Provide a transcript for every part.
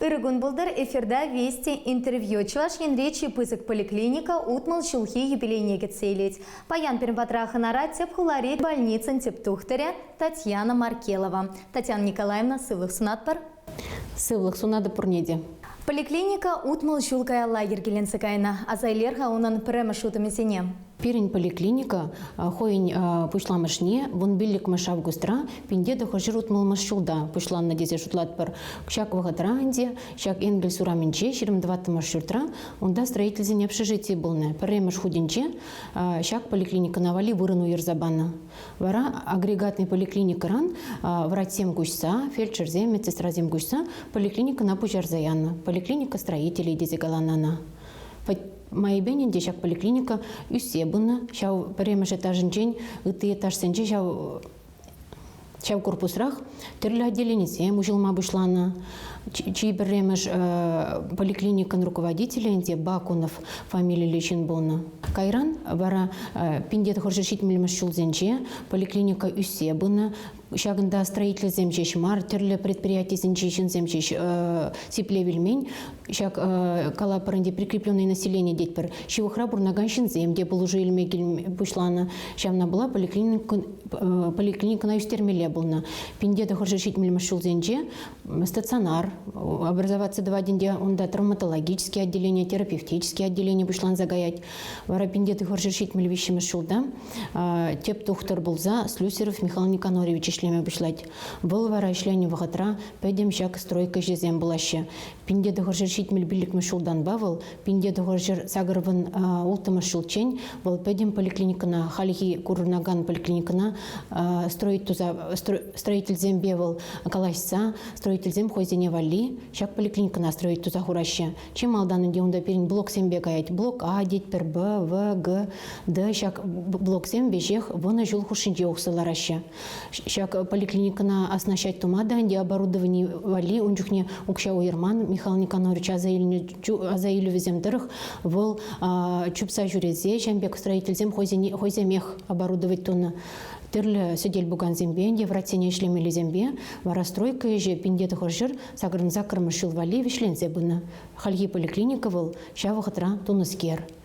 Ыр кун пултӑр эфирта Вести интервью Чӑваш Енре чи пысӑк поликлиника утмӑл ҫулхи юбилейне кӗтсе илет. Паян пирӗн патра хӑнара тӗп хулари больницӑн тӗп тухтӑрӗ Татьяна Маркелова. Татьяна Николаевна сывлӑх сунатпӑр. Сывлӑх сунатӑп пурне те. Поликлиника утмӑл ҫул каялла йӗркеленсе кайнӑ. Аса илер-ха унӑн пӗрремӗш утӑмӗсене. Пирӗн поликлиника хӑйӗн пуҫламӑшне вун пиллӗкмӗш августра пинте тӑхӑрҫӗр утмӑлмӗш ҫулта пуҫланнӑ тесе шутлатпӑр. Ҫак вӑхӑтра ӗнтӗ ҫак Энгельс урамӗнче ҫирӗм тӑваттӑмӗш ҫуртра унта строительсен общежитийӗ пулнӑ. Пӗрремӗш хутӗнче ҫак поликлиникӑна валли вырӑн уйӑрса панӑ. Вара агрегатный поликлиникӑран врачсем куҫса, фельдшерсем, медсестрасем куҫса поликлиникӑна пуҫарса янӑ. Поликлиника строителей тесе каланӑ ӑна. Майӗпен те ҫак поликлиника ӳссе пынӑ. Ҫав пӗрремӗш этажӗнчен ытти этажсенче ҫав ҫав корпусрах тӗрлӗ отделенисем уҫӑлма пуҫланӑ. Чи пӗрремӗш поликлиникӑн руководителӗ ӗнтӗ Бакунов фамилиллӗ ҫын пулнӑ. Кайран вара Пиндет хӑршӑ ҫитмӗлмӗш ҫулсенче поликлиника ӳссе пынӑ. Ҫакӑнта строительсем ҫеҫ мар, тӗрлӗ предприятисенчи ҫынсем ҫеҫ сиплев илмен. Ҫак калапӑр ӗнтӗ прикрепленное население тетпӗр. Ҫывӑхра пурӑнакан ҫынсем те пулӑшу илме пуҫланӑ. Ҫавна пула поликлиникӑн поликлиникӑна ӳстермелле пулнӑ. Пинте тӑхӑрҫу ҫитмӗлмӗш ҫулсенче стационар, образоваци тӑватӗнте унта травматологический отделение, терапевтический отделение пуҫланса каять. Вара пинте тӑхӑрҫу ҫитмӗл виҫҫӗмӗш ҫулта тӗп тухтӑр пулса Слюсеров Михаил Никонорович ӗҫлеме пуҫлать. Вӑл вара ӗҫленӗ вӑхӑтра пӗтӗм ҫак стройка ӗҫӗсем пулаҫҫӗ. Пинте тӑхӑрҫӗр ҫитмӗл пиллӗкмӗш ҫултанпа вӑл пинте тӑхӑрҫӗр сакӑрпӑн улттӑмӗш ҫулччен вӑл пӗтӗм поликлиникӑна, хальхи курӑнакан поликлиникӑна строить туса строительсемпе вӑл калаҫса строительсем хӑйсене валли ҫак поликлиникӑна строить туса хураҫҫӗ. Чи малтан ӗнтӗ унта пирӗн блоксемпе каять. Блок А тетпӗр Б, В, Г, Д ҫак блоксем веҫех вунӑ ҫул хушшинче уксӑ лараҫҫӗ. Ҫак поликлиникӑна оснащать тума та ӗнтӗ оборудовани валли ун чухне укҫа уйӑрман. Михаил Никонорович аса илнӗ аса илӗвӗсем тӑрӑх вӑл чупса ҫӳресе ҫын пек строительсем хӑйсемех оборудовать тунӑ. Тӗрлӗ сӗтел-пукансемпе ӗнтӗ врачсене ӗҫлемеллисемпе вара стройка ӗҫӗ пинте тӑхӑр ҫӗр сакӑрӑн саккӑрмӗш ҫул валли вӗҫленсе пынӑ. Хальхи поликлиника вӑл ҫав вӑхӑтра тунӑскер.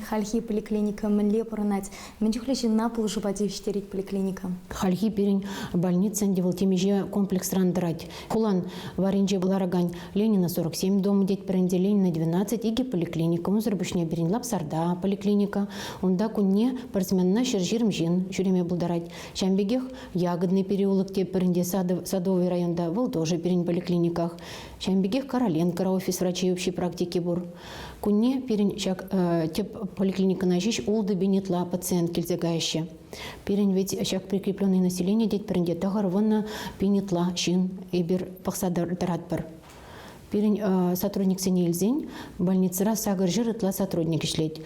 Хальхи поликлиника мӗнле пурӑнать? Мӗн чухлӗ ҫынна пулӑшупа тивӗҫтерет поликлиника? Хальхи пирӗн больница ӗнтӗ вӑл темиҫе комплексран тӑрать. Хулан варринче ларакан Ленина 47 дома тетпӗр ӗнтӗ, Ленина 12 икӗ поликлиника. Унсӑр пуҫне пирӗн Лапсарта поликлиника. Унта кунне пӗр сменӑна ҫӗр-ҫирӗм ҫын ҫӳреме пултарать. Ҫавӑн пекех Ягодный переулок тетпӗр ӗнтӗ Садовый районта, вӑл тоже пирӗн поликлиниках. Ҫавӑн пекех Короленкора офис врачей общей практики пур. Кунне пирӗн ҫак тӗп поликлиникӑна ҫеҫ ултӑ-пин ытла пациент килсе каҫҫӗ. Пирӗн вӗт ҫак прикрепленное население тетпӗр те тӑхӑр вуннӑ пин ытла ҫын эпир пӑхса тӑратпӑр. Пирӗн сотрудниксене илсен больницӑра сакӑр ҫыр ытла сотрудник ӗҫлет.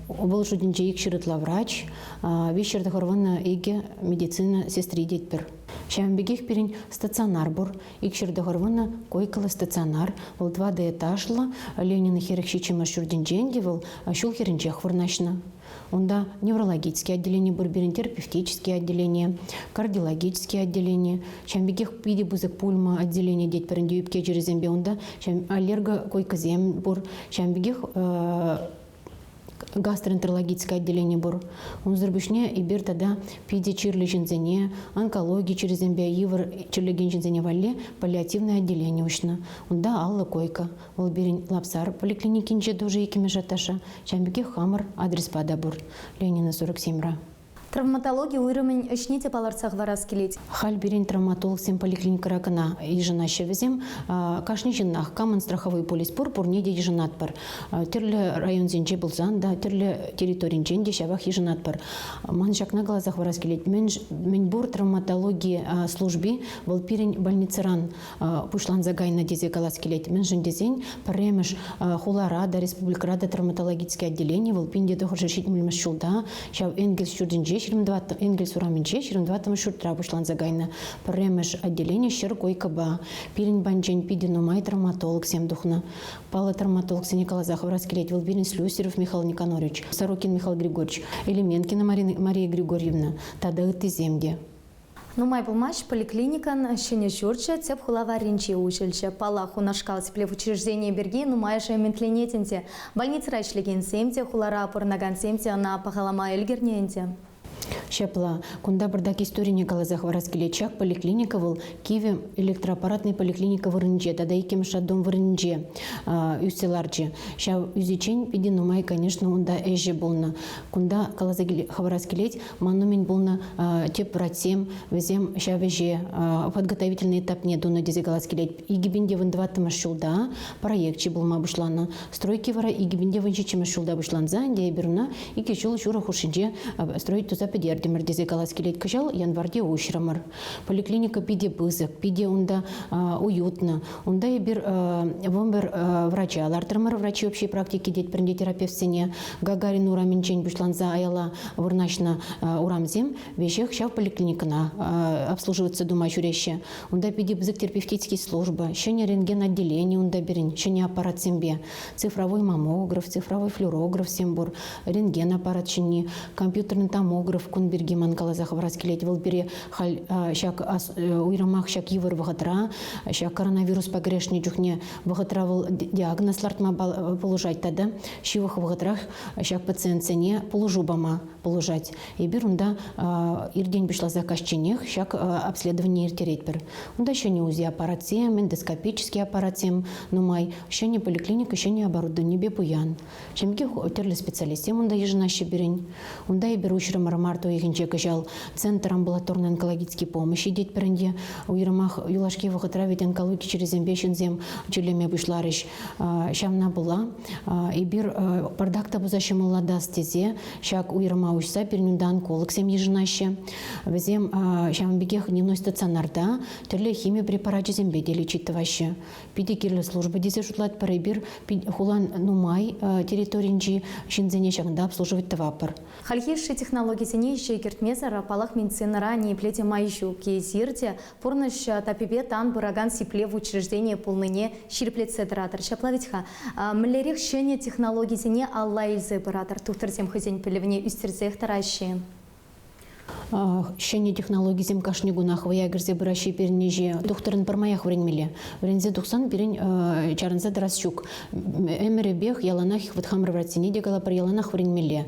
Вӑл шутӗнче ик ҫыр ытла врач, виҫ ҫыр тӑхӑр вуннӑ икӗ медицина сестри тетпӗр. Ҫавӑн пекех пирӗн стационар пур. Икҫӗр тӑхӑр вунӑ Койкова стационар, вӑл тӑватӑ этажлӑ, Ленин хӗрӗх ҫиччӗмӗш ҫуртӗнчен те вӑл ҫул хӗрринчех вырнаҫнӑ. Унта неврологический отделени пур пирӗн, терапевтический отделение, кардиологический отделени, ҫавӑн пекех питӗ пысӑк пульма отделени тетпӗр ӗнтӗ ӳпке чирӗсемпе унта ҫавӑн аллерго койкӑсем пур, ҫавӑн пекех гастроэнтерологическое отделени пур. Унсӑр пуҫне эпир тата питӗ чирлӗ ҫынсене, онкологи чирӗсемпе йывӑр чирлекен ҫынсене валли паллиативное отделение уҫнӑ. Унта алла койка. Вӑл пирӗн Лапсар поликлиникинче тоже иккӗмӗш этажа, ҫавӑн пекех хамӑр адреспа та пур. Ленина 47-ра. Травматологи уйрӑмӗн ӗҫне те палӑртса хӑварас килет. Халь пирӗн травматологсем поликлиникӑра кӑна йышӑнаҫҫӗ вӗсем. Кашни ҫыннах, камӑн страховой полис пур, пурне те йышӑнатпӑр. Тӗрлӗ районсенче пулсан та, тӗрлӗ территоринчен те ҫавах йышӑнатпӑр. Ман ҫакна каласа хӑварас килет, мӗн пур травматологи служби вӑл пирӗн больницӑран пуҫланса кайнӑ тесе калас килет. Мӗншӗн тесен пӗрремӗш хулара та, республикӑра та травматологическое отделение вӑл пин те тӑхӑршӗ ҫитмӗлмӗш ҫулта, ҫав Энгельс ҫуртӗнче, Энгельс урамӗнче, 24 ҫуртра пуҫланса кайнӑ. Пӗрремӗш отделение ҫӗр койкӑпа. Пирӗн банчен питӗ нумай травматологсем тухнӑ. Паллӑ травматологсене каласа хӑварас килет. Вӑл пирӗн Слюстерев Михаил Никонорович, Сорокин Михаил Григорьевич, Элеменкина Мария Григорьевна тата ыттисем те. Нумай пулмасть поликлиникӑн ҫӗнӗ ҫурчӗ тӗп хула варринче уҫӑлчӗ. Паллах, унашкал тӗплев учрежденийӗ пирки нумайӑшӗ ӗмӗтленет ӗнтӗ. Больницӑра ӗҫлекенсем те, хулара пурӑнакансем те ӑна пахалама ӗлкӗрнӗ ӗнтӗ. Ҫапла, кунта пӑртак историне каласа хӑварас килет. Ҫак поликлиника вӑл кивӗ электроаппаратнӑй поликлиника вырӑнӗнче тата иккӗмӗш роддом вырӑнӗнче ӳссе ларчӗ. Ҫав ӳсиччен питӗ нумай, конечно, унта ӗҫӗ пулнӑ. Кунта каласа хӑварас килет, Ман умӗн пулнӑ тӗп врачсем, вӗсем ҫав ӗҫе подготовительный этапне тунӑ тесе калас килет. Икӗпинте вун тӑваттӑмӗш ҫулта проекчӗ пулма пуҫланӑ. Стройки вара икӗпинте вун ҫиччӗмӗш ҫулта пуҫланса ӗнтӗ эпир ӑна икӗ ҫул ҫурӑ хушшинче строй туса пӗтертӗмӗр тесе калас килет. Кӑҫал январьте уҫрӑмӑр. Поликлиника питӗ пысӑк, питӗ унта уютно. Унта эпир вӑмбӗр врача лартрӑмӑр. Врачи общей практики тет пӗринте терапевтсене Гагарин урамӗнчен пуҫланса аяла вырнаҫнӑ урамсем веҫех ҫав поликлиникӑна обслуживаться тума ҫӳреҫҫӗ. Унта питӗ пысӑк терапевтический служба, ҫӗнӗ рентген отделени унта пирӗн, ҫӗнӗ аппаратсемпе. Цифровой маммограф, цифровой флюорографсем пур, рентген аппарат ҫини, компьютерный томограф кун пирки ман каласа хӑварас килет. Вӑл пире халь ҫак уйрӑмах ҫак йывӑр вӑхӑтра, ҫак коронавируспа кӗрешнӗ чухне вӑхӑтра вӑл диагноз лартма пулӑшать тата ҫывӑх вӑхӑтрах ҫак пациентсене пулӑшу пама пулӑшать. Эпир унта иртен пуҫласа каҫченех ҫак обследование ирттеретпӗр. Унта ҫӗнӗ УЗИ аппаратсем, эндоскопический аппаратсем нумай, ҫӗнӗ поликлиника ҫӗнӗ оборудованипе пуян. Ҫемье тӗрлӗ специалистсем унта йышӑнаҫҫӗ пирӗн. Унта эпир уҫрӑмӑр март уйӑхӗнче кӑҫал центр амбулаторный онкологический помощь ҫитетпӗр ӗнтӗ. Уйрӑмах юлашки вӑхӑтра ведь онкологи чирӗсемпе ҫынсем тӳлеме пуҫларӗҫ. Ҫавна пула эпир бардак та пуса ҫӑмӑллатас тесе ҫак уйрӑма уҫса пирӗн унта онкологсем йышӑнаҫҫӗ. Вӗсем ҫавӑн пекех дневной стационарта тӗрлӗ хими препарачӗсемпе те лечить тӑваҫҫӗ. питӗ кирлӗ служба тесе шутлатпӑр эпир. Хулан нумай территоринчи ҫынсене ҫакӑнта обслуживать тӑватпӑр. Хальхи ӗҫши технологисене ӗҫе кӗртмесӗр, палах, медицинӑра ниепле те май ҫук. Эсир те пурнӑҫ таппипе тан пыракан сиплев учрежденийӗ пулнине ҫирӗплетсе тӑратӑр. Ҫапла вӗт-ха. Мӗнлерех ҫӗнӗ технологисене алла илсе пыратӑр, тухтӑрсем хӑйсен пӗлӗвне ӳстерсех тӑраҫҫӗ-и? Ҫӗнӗ технологисем кашни кунах вӑя кӗрсе пыраҫҫӗ пирӗн ӗҫе. Тухтӑрӑн пӗрмаях вӗренмелле. Вӗренсе тухсан пирӗн чарӑнса тӑрас ҫук. Ӗмӗрӗпех яланах вӑт хамӑр врачсене те калапӑр, яланах вӗренмелле.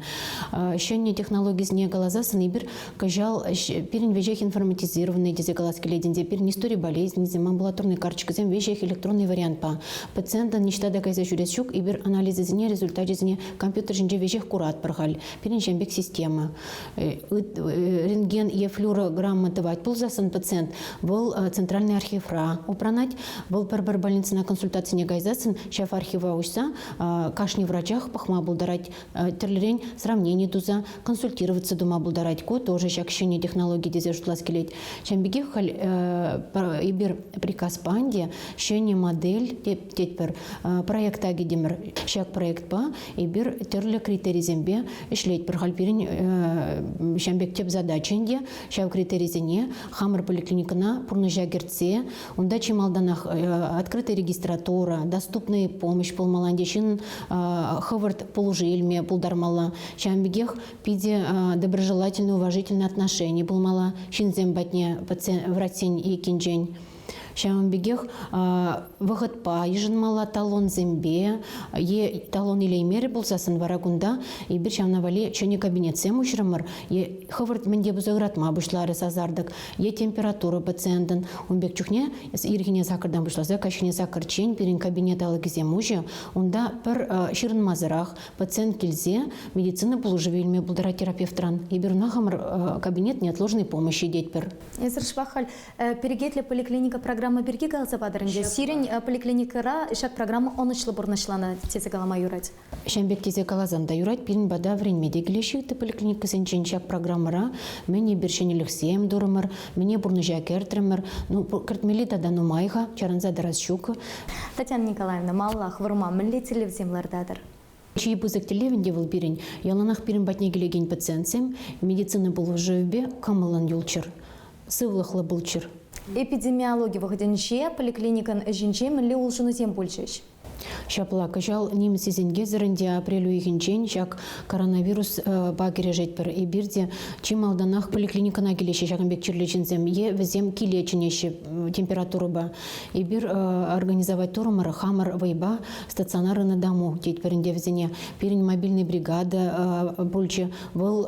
Ҫӗнӗ технологисене каласассӑн эпир кӑҫал пирӗн веҫех информатизированный тесе калас килет ӗнтӗ. Пирӗн истори болезнисем, амбулаторный карточкӑсем веҫех электронный вариантпа. Пациентӑн ниҫта та кайса ҫӳрес ҫук, эпир анализӗсене, результачӗсене компьютер ҫинче веҫех куратпӑр халь. Пирӗншен пек система. Рентген е флюорограмма тӑвать пулсассӑн пациент вӑл центральный архивра упранать, вӑл пӗр-пӗр больницӑна консультацине кайсассӑн ҫав архива уҫса кашни врачах пӑхма пултарать, тӗрлӗрен сравнени туса консультироваться тума пултарать. Ку тоже ҫак ҫӗнӗ технологи тесе шутлас килет. Ҫавӑн пекех халь эпир приказ панди ҫӗнӗ модель тетпӗр проекта кӗтӗмӗр. Ҫак проектпа Эпир тӗрлӗ критерисемпе ӗҫлетпӗр. Халь пирӗн ҫam пек тӗп задача ӗнтӗ ҫав критерисене хамӑр поликлиникӑна пурнӑҫа кӗртсе унта чи малтанах открытая регистратура, доступная помощь пулмалла ӗнтӗ, ҫын хӑвӑрт пулӑшу илме пултармалла. Ҫавӑн пекех питӗ доброжелательно, уважительно отношени пулмалла ҫынсем патне, врачсен еккинчен. Ҫавӑн пекех вӑхӑтпа йышӑнмалла талонсемпе е талон илеймерӗ пулсассӑн вара кунта эпир ҫавна валли ҫӗнӗ кабинетсем уҫрӑмӑр е хӑвӑрт мӗнте пулса ыратма пуҫларӗ сасартӑк е температура пациентӑн ун пек чухне ирхине саккӑртан пуҫласа каҫхине саккӑрччен пирӗн кабинет алӑкӗсем уҫӑ унта пӗр ҫырӑнмасӑрах пациент килсе медицина пулӑшӑвӗ илме пултарать терапевтран эпир ӑна хамӑр кабинет неотложной помощи тетпӗр. Эсир шӑпах халь Перекетлӗ поликлиника программа пирки каласа патӑр ӗнтӗ. Сирӗн поликлиникӑра ҫак программа ӑнӑҫлӑ пурнӑҫланӑ тесе калама юрать. Ҫавӑн пек тесе каласан та юрать, пирӗн пата вӗренме те килеҫҫӗ ытти поликлиникӑсенчен ҫак программӑра. Мӗн эпир ҫӗнӗлӗхсем турӑмӑр, мӗне пурнӑҫа кӗртрӗмӗр. Ну, кӗртмелли тата нумай-ха, чарӑнса тӑрас ҫук. Татьяна Николаевна, маллах вырма мӗнле тӗллевсем лартатӑр? Чи пысӑк тӗллев ӗнтӗ вӑл пирӗн, яланах пирӗн патне килекен пациентсем медицина пулӑшӑвӗпе кӑмӑллӑн юлччӑр, сывлӑхлӑ пулччӑр. Эпидемиологи вӑхӑтӗнче поликлиникӑн ӗҫӗнче мӗнле улшӑнусем пулчӗҫ? Ҫапла, кӑҫал нимӗн сисӗнкесӗрӗн те апрель уйӑхӗнчен ҫак коронавируспа кӗрешетпӗр. Эпир те чи малтанах поликлиникӑна килеҫҫӗ ҫакӑн пек чирлӗ ҫынсем е вӗсем киле чӗнеҫҫӗ температурӑпа. Эпир организовать турӑмӑр хамӑр вӑйпа стационар ӑна дому тет вӗренте вӗсене пирӗн мобильный бригада пулчӗ вӑл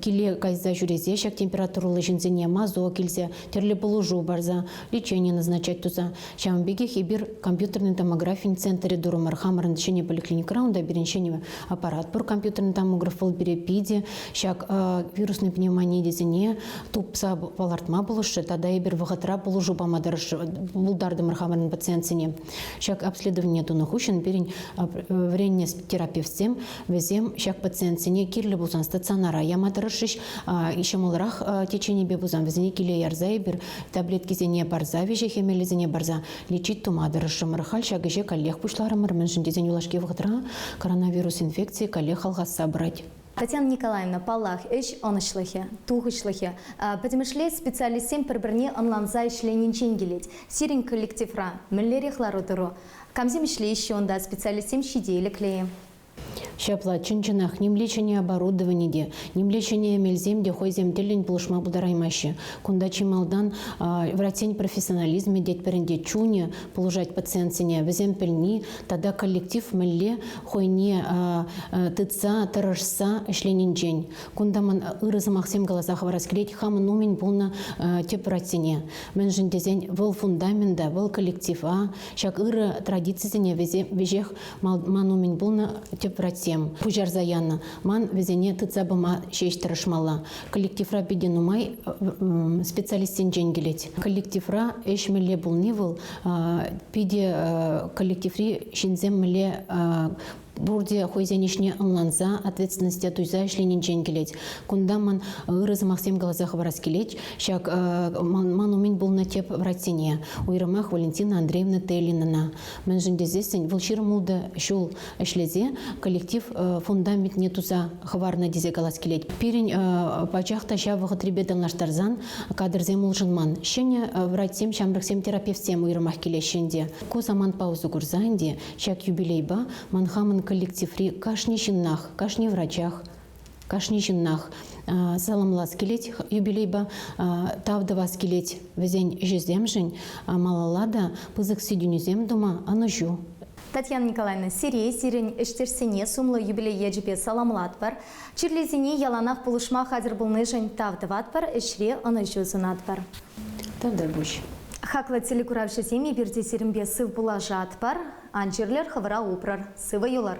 киле кайса ҫӳресе ҫак температурӑллӑ ҫынсене мазок илсе тӗрлӗ пулӑшу парса лечение назначать туса ҫавӑн пекех эпир компьютерный томографин центрӗ турӑмӑр хамӑрӑн ҫӗнӗ поликлиникӑра унта пирӗн ҫӗнӗ аппарат пур компьютерный томограф вӑл пире питӗ ҫак вирусный пневмони тесене тупса палӑртма пулӑшрӗ тата эпир вӑхӑтра пулӑшу пама тӑрӑшрӗ пултартӑмӑр хамӑрӑн пациентсене Ҫак обследование тунӑ хыҫҫӑн пирӗн вӗреннӗ терапевтсем вӗсем ҫак пациентсене кирлӗ пулсан стационара яма тӑрӑшрӗҫ. Ҫӑмӑлрах теченипе пулсан вӗсене киле ярса эпир таблеткисене парса, виҫе хӗмелӗсене парса лечить тума тӑрӑшрӑмӑр. Халь ҫак ӗҫе каллех пуҫларӑмӑр, мӗншӗн тесен юлашки вӑхӑтра коронавирус инфекцийӗ каллех алхасса пырать. Татьяна Николаевна, паллах, ӗҫ ӑнӑҫлӑхӗ, тухӑҫлӑхӗ пӗтӗмӗшле специалистсем пӗр-пӗрне ӑнланса ӗҫленинчен килет. Сирӗн коллективра мӗнлерех лару-тӑру? Камсем ӗҫлеҫҫӗ унта специалистсем ҫителӗклӗ-и? Ҫапла, чӑн-чӑнах, нимле ҫӗнӗ оборудовани те, нимле ҫӗнӗ эмелсем те хӑйсем тӗллӗн пулӑшма пултараймаҫҫӗ. Кунта чи малтан врачсен профессионализмӗ тетпӗр ӗнтӗ, чунӗ пулӑшать пациентсене, вӗсем пӗлни, тата коллектив мӗнле хӑйне тытса, тӑрӑшса ӗҫленинчен. Кунта ман ырӑ сӑмахсем каласа хӑварас килет хамӑн умӗн пулнӑ тӗп ратьсене. Мӗншӗн тесен вӑл фундамента, вӑл коллектива, ҫак ырӑ традицисене веҫех ман умӗн пулнӑ тӗп ратьсем пуҫарса янӑ. Ман вӗсене тытса пыма ҫеҫ тӑрӑшмалла. Коллективра питӗ нумай специалистсенчен килет. Коллективра ӗҫ мӗнле пулни вӑл Питӗ коллективри ҫынсем мӗнле пурте хӑйсен ӗҫне ӑнланса, ответственности туйса ӗҫленинчен килет. Кунта ман ырӑ сӑмахсем каласа хӑварас килет ҫак ман умӗн пулнӑ тӗп врачсене, уйрӑмах Валентина Андреевна Теллинана. Мӗншӗн тесессӗн вӑл ҫирӗм ултӑ ҫул ӗҫлесе коллектив фундаментне туса хӑварнӑ тесе калас килет. Пирӗн пачах та ҫав вӑхӑтрипе танлаштарсан кадрсем улшӑнман. Ҫӗнӗ врачсем, ҫамрӑксем, терапевтсем уйрӑмах килеҫҫӗ ӗнтӗ. Ку самант паузу курса ӗнтӗ ҫак юбилейпа ман хамӑн коллективри кашни ҫыннах, кашни врачах, Кашни ҫыннах саламлас килет юбилейпа, тав тӑвас килет вӗсен ӗҫӗсемшӗн. Малалла та пысӑк ситӗнӳсем тума ӑнӑҫу. Татьяна Николаевна, сире, сирӗн ӗҫтешсене сумлӑ юбилей ячӗпе саламлатпӑр, чирлисене яланах пулӑшма хатӗр пулнишӗн тав тӑватпӑр, ӗҫре ӑнӑҫу сунатпӑр. Тавтар пуҫ. Хаклӑ телекуравҫӑсем, эпир те сирӗнпе сыв пулашатпӑр. Ан чирлӗр, хӑвӑра упрӑр, сывӑ юлӑр.